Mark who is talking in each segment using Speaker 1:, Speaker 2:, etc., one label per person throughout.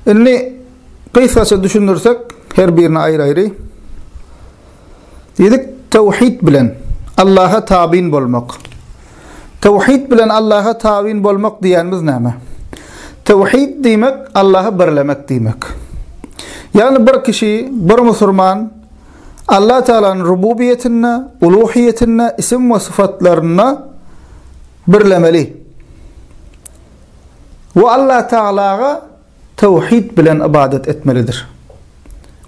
Speaker 1: Indi gysgaça düşündirsek, her birini aýry-aýry. Diýdik, tawhid bilen Allaha tabyn bolmak. Tawhid bilen Allaha tabyn bolmak diýenimiz näme? Tawhid diýmek Allahy birlemek diýmek. Ýagny bir kişi, bir musulman Allah Taalanyň rububiýetinde, uluhiýetinde, isim we syfatlarynda Birlemeli we Allah Tagalaga tawhid bilen ybadat etmelidir.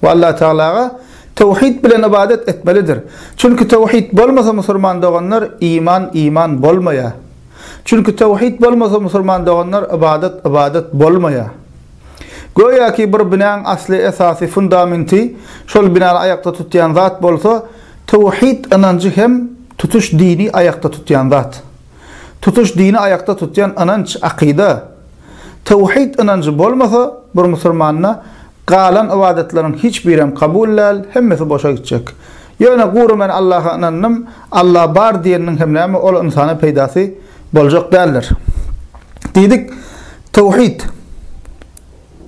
Speaker 1: We Allah Tagalaga tawhid bilen ybadat etmelidir. Çünki tawhid bolmasa musulman doganlar iman iman bolmaýar. Çünki tawhid bolmasa musulman doganlar ybadat ybadat bolmaýar. Göýäki bir binäň asly esasy fundamenti şol binany aýakda tutýan zat bolsa Töwhid ynanjy hem tutuş dini aýakda tutýan zat. Tutuş dini aýakda tutýan ynanç, akyda. Töwhid ynanjy bolmasa, bir musurmanda galan ybadatlaryň hiç birem kabul däl, hemmesi boşa gitjek. Ýöne gury men Allaha ynandym, Alla bar diýeniniň hem näme ol ynsana peýdasy boljak däldir. Diýdik, töwhid.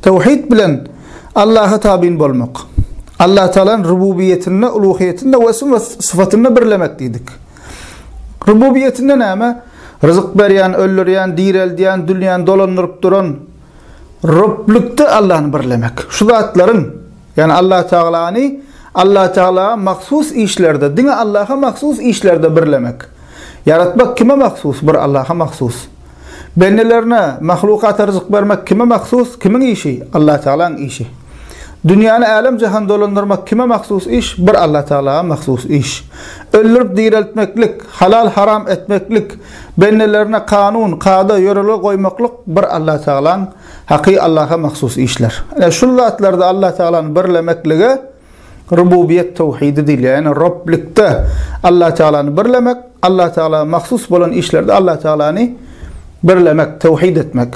Speaker 1: Tawhid bilen Allaha tabyn bolmak. Allatagalaň rububiýetinde, uluhyýetinde we esm we syfatynda birlemek diýdik. Rububiýetinde näme? Ryzyk berýän, öldürýän, direldýän, dünýäni dolandyryp duran Roblikde Allany birlemek. Şu zatlaryň Ýagny Allatagalany Allatagala mahsus işlerde, diňe Allaha mahsus işlerde birlemek. Ýaratmak kime mahsus? Bir Allaha mahsus. Bendelerine, mahlukata ryzyk bermek kime mahsus? Kimiň işi? Allatagalaň işi. Dünýäni älem-jahan dolandyrmak kime mahsus iş? Bir Allatagala mahsus iş. Öldürip direltmeklik, halal-haram etmeklik, bendelerine kanun, kada, ýörelge goýmaklyk bir Allatagalaň Haky Allaha mahsus işler. Ine, şul zatlarda Allah Tagalany birlemeklige Rububiýet towhidi diýilýär. Ýagny Roblikde Allah Tagalany birlemek, Allah Tagala mahsus bolan işlerde Allah Tagalany birlemek, towhid etmek.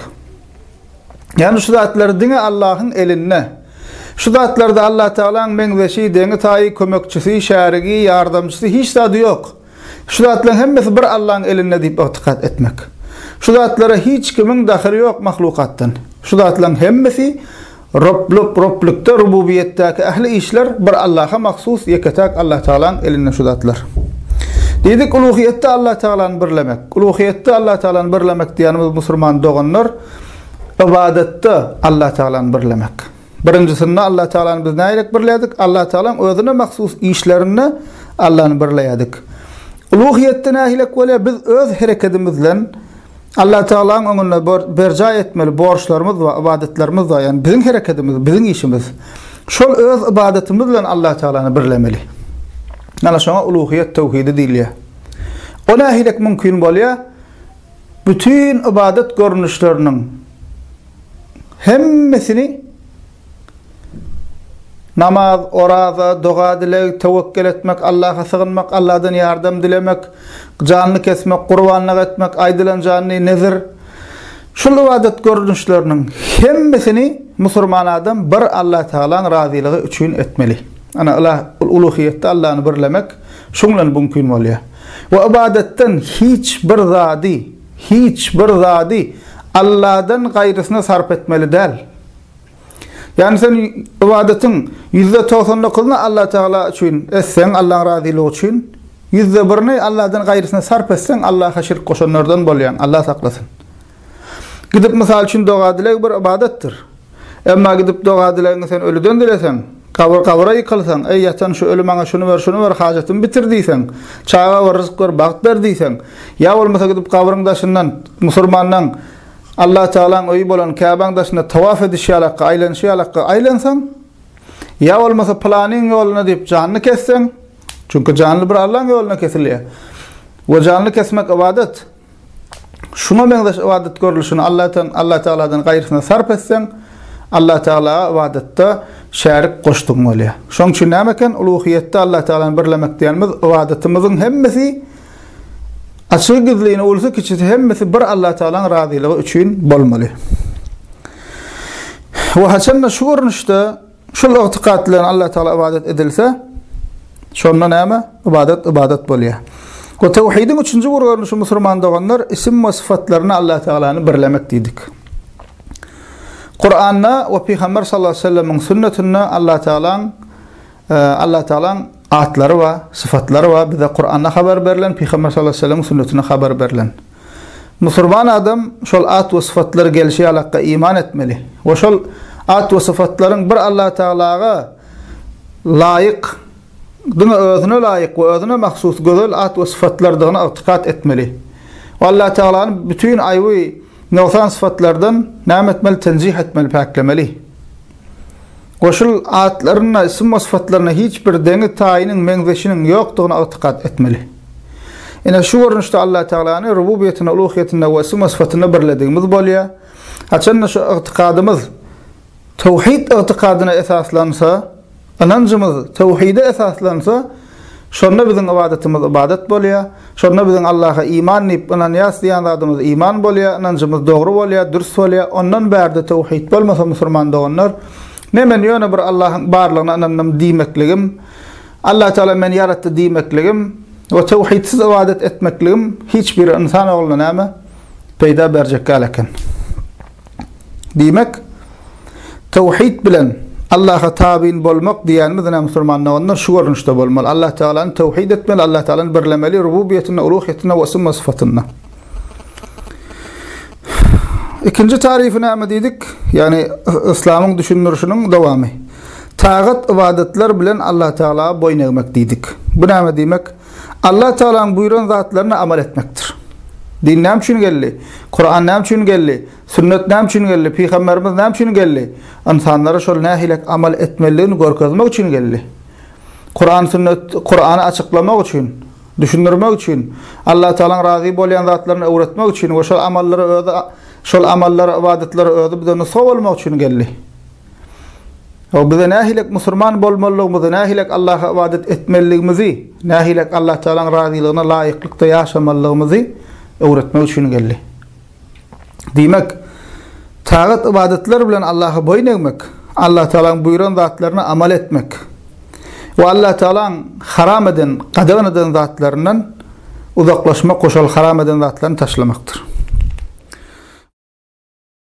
Speaker 1: Ýagny şu zatlar diňe Allahyň elinde. Şu zatlarda Allah Tagalaň meňzeşi, deňi-taýy, kömekçisi, şärigi, ýardamçysy hiç zady ýok. Şu zatlaryň hemmesi bir Allaň elinde diýip ygtykat etmek. Şu zatlara hiç kimiň dahyly ýok mahlukatdan. Şu zatlaryň hemmesi Roblyk, Roblykda, Rububiýetdäki ähli işler bir Allaha mahsus, ýeke-täk Allatagalaň elinde şu zatlar. Diýdik, uluhyýetde Allatagalany birlemek. Uluhyýetde Allatagalany birlemek diýýänimiz musulman doganlar ybadatda Allatagalany birlemek. Birinjisinde Allatagalany biz nägilek birlädik? Allatagalaň özüne mahsus işlerinde Allany birleýärdik. Uluhyýetde nägilek bolýar? Biz öz herekedimiz bilen Allatagalaň öňünde berjaý etmeli borçlarymyz bar, ybadatlarymyz bar, ýagny biziň herekedimiz, biziň işimiz. Şol öz ybadatymyz bilen Allatagalany birlemeli. Ana şoňa uluhyýet töwhidi diýilýär. O nägilek mümkin bolýar? Bütin ybadat görnüşleriniň hemmesini namaz, oraza, doga-dileg, töwekgel etmek, Allaha sygynmak, Alladan ýardam dilemek, janyny kesmek, gurbanlyk etmek, aýdylan janyny, nezir, şul ybadat görnüşleriniň hemmesini musurman adam bir Allah Tagalaň razylygy üçin etmeli. Ana, uluhyýetde Allany birlemek şuň bilen bumkin bolýar. we ybadatdan hiç bir zady, hiç bir zady Alladan gaýrysyna sarp etmeli däl. Ýagny sen ybadatyň ýüzde togsan dokuzyny Allatagala üçin etseň, Allaň razylygy üçin, ýüzde birini Alladan gaýrysyna sarp etseň, Allaha şirk goşanlardan bolýaň, Allah saklasyn. Gidip, mysal üçin, doga-dileg bir ybadatdyr. Emma gidip doga-dilegiňi sen ölüden dileseň, gabyr gabyra ýykylsaň, Eý, ýatan şu öli maňa şuny ber, şuny ber, hajatymy bitir diýseň, çaga ber, ryzyk ber, bagt ber diýseň, ýa bolmasa gidip gabryň daşyndan musurmanlaň Allatagalaň öýi bolan Käbäň daşynda tawaf edişi ýalakka, aýlanyşy ýalakka aýlansaň, ýa bolmasa pylanyň ýoluna diýip janyny kesseň, çünki janly bir Allaň ýoluna kesilýär we janly kesmek ybadat. Şuňa meňzeş ybadat görlüşini Allatan, Allatagaladan gaýrysyna sarp etseň, Allatagala ybadatda şärik goşdugyň bolýar. Şoň üçin näme eken, uluhyýetde Allatagalany birlemek diýenimiz, ybadatymyzyň hemmesi, açygy-gizlini, ulusy-kiçisi hemmesi bir Allatagalanyň razylygy üçin bolmaly. We haçan-da şu görnüşde, Şol ygtykat bilen Alla Taala ybadat edilse, şonda näme? Ybadat ybadat bolýar. Bu tawhidiň üçünji bir görnüşi musulman doganlar isim we syfatlaryny Alla Taalany birlemek diýdik. Kur'an'da we Peygamber sallallahu aleyhi ve sellem'in sünnetinde Allah Teala'nın e, Allah Teala'nın Atlary bar, sypatlary bar, bize Kuranda habar berlen, Pygamber sallallahu aleýhi we sellemiň sünnetinde habar berlen. Musurman adam şol at we sypatlary gelşi ýaly Hakka iman etmeli we şol at we sypatlaryň bir Allah Tagalaga laýyk, diňe Özüne laýyk we Özüne mahsus gözel at we sypatlardygyna ygtykat etmeli we Allah Tagalany bütin aýby, Nogsan sypatlardan näme etmeli, tenjih etmeli, päklemeli? Goşul atlarynda isim we sypatlarynda hiç bir deňi, taýynyň, meňzeşiniň ýokdugyna ygtykat etmeli. Ine, şu görnüşde Allatagalany rububiýetinde, uluhyýetinde we isim we sypatynda birledigimiz bolýar. Haçan-da şu ygtykadymyz towhid ygtykadyna esaslansa, Ynanjymyz töwhide esaslansa, şonda biziň ybadatymyz ybadat bolýar, şonda biziň Allaha iman diýip ynanýas diýen zadymyz iman bolýar, ynanjymyz dogry bolýar, dürs bolýar, ondan bärde töwhit bolmasa musurman doganlar, ne men ýöne bir Allahyň barlygyna ynandym diýmekligim, Allah Tagala meni ýaratdy diýmekligim we töwhidsiz ybadat etmekligim hiç bir ynsan ogluna näme peýda berjek däl eken. Diýmek, Tawhid bilen Allaha tabyn bolmak diýýänimiz ine musulman doganlar şu görnüşde bolmaly. Allah Tagalany tawhid etmeli, Allah Tagalany birlemeli rububiýetinde, uluhiýetinde we summa syfatynda. Ikinji tarifi näme diýdik? Ýagny yslamyň düşündirişiniň dowamy. Tagat ybadatlar bilen Allah Tagala boýun egmek diýdik. Bu näme diýmek? Allatagalaň buýran zatlaryna amal etmekdir. Din näme üçin geldi? Kuran näme üçin geldi? Sünnet näme üçin geldi? Pygamberimiz näme üçin geldi? Ynsanlara şol nähilek amal etmelidigini görkezmek üçin geldi. Kuran sünnet Kurany açyklamak üçin, düşündirmek üçin, Allatagalaň razy bolýan zatlaryny öwretmek üçin we şol amallary özi şol amallary, ybadatlary özi bize nusga bolmak üçin geldi. O bize nähilek musurman bolmalydygymyzy, nähilek Allaha ybadat etmelidigimizi, nähilek Allah Tagalaň razylygyna laýyklykda ýaşamalydygymyzy öwretmek üçin geldi. Diýmek, tagat ybadatlar bilen Allaha boýun egmek, Allah Tagalaň buýran zatlaryna amal etmek we Allah Tagalaň haram eden, gadagan eden zatlaryndan uzaklaşmak we şol haram eden zatlaryny taşlamakdyr.